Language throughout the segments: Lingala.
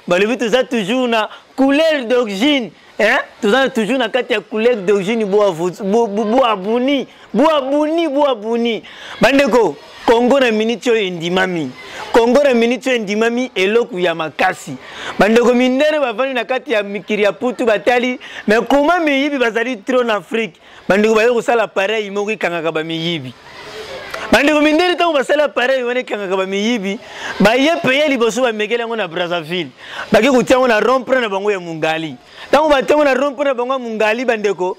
balobi toza toujours na couleur d'origine hein? toza toujours na kati ya couleur d'origine boabuni boabuni boabuni bandeko kongo na miniti oyo endimami kongo na miniti oyo endimami eloko ya makasi bandeko mindele bavandi na kati ya mikili ya putu batali me koma miyibi bazali tro na afrike bandeko baye kosala apareyi moko ekangaka bamiyibi bandeko mindele ntango basali apareyi wana ekangaka bamiyibi baye peye liboso bamekeli yango na brazzaville bake kotia yango na rompre na bango ya mungali ntango batia yango na rompre na bango ya mungali bandeko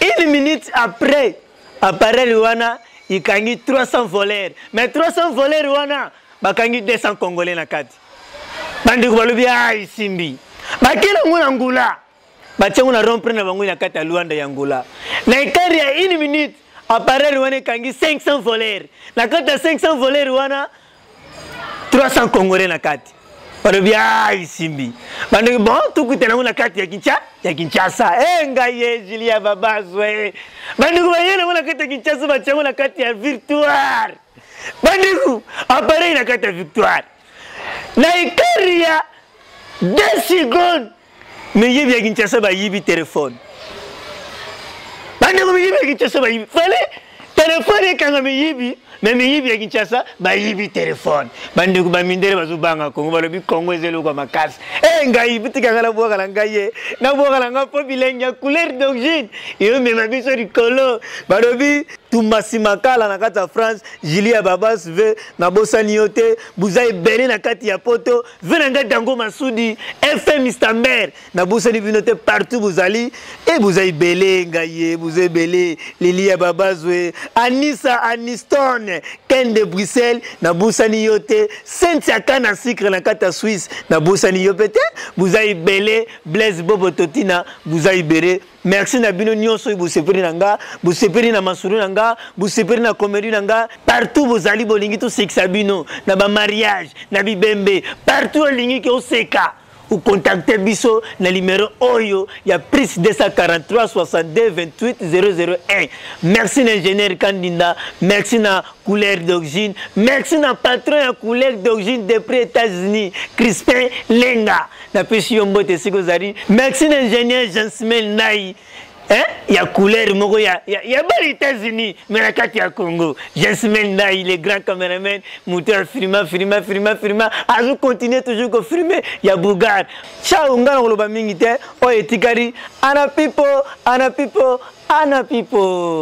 une minute après apareyi wana ikangi 300 voleur mais 300 voleur wana bakangi 200 congolais na kati bandeko balobi a ah, isimbi bakeli yango na ngula batie yango na rompre na bango na kati ya luanda ya ngola na ekare ya une minute appareil wana ekangi 500 voler na kati ya 500 voler wana 300 congolais na kati balobi a isimbi bandoki bon tokutana yango na kati ya kinshasa ya kinshasa e ngai ye julia babazwe bandoki baye nango na kati ya kinshasa batia yango na kati ya victoire bandoki appareil na kati ya victoire na ekare ya 2 secondes miyibi ya kinshasa bayibi telefone bandeko miyibi ya kinshasa bayibi fale telefone ekanga miyibi me miyibi ya kinshasa bayibi telefone bandeko bamindele bazobanga kongo balobi kongo eza eloko ya makasi e eh, ngai bitika ngai nabwaka na ngai ye nabwaka na ngai mpo bilengi ya couleur d'origine eyomema biso likolo balobi tumbasi makala na kati ya france julie ya babas ve nabosani yo te buza ebele na kati ya poto ve na ngai dango masudi fm stamber nabosani bino te partout bozali e boza ebele ngai ye boza ebele lili ya babazwe anisa aniston ken de bruxelles nabosani yo te sentia kana sucre na kati ya swisse nabosani yo mpe te boza ebele blaise bobo totina boza ebele Merci na bino nionso oyo bosepeli na nga, bosepeli na masolo na nga, bosepeli na comedy na nga. Partout bozali bolingi tosekisa bino na ba mariage, na bibembe, partout olingi ke oseka. Ocontacte biso na numero oyo ya plus 243 62 28 001. Merci na ingénieur Kandinda, merci na couleur d'origine, merci na patron ya couleur d'origine depuis États-Unis, Crispin Lenga. napesi yo mbote esika ozali merci na ingénieur jansmel ndai eh? ya couleur moko ya, ya, ya bana états-unis me na kati ya congo jansmel ndai le grand cameraman moto ya filma filma filma filma azo continue toujours kofilme ya bougar chao ngai na koloba mingi te oyo etikali ana pipo ana pipo ana pipo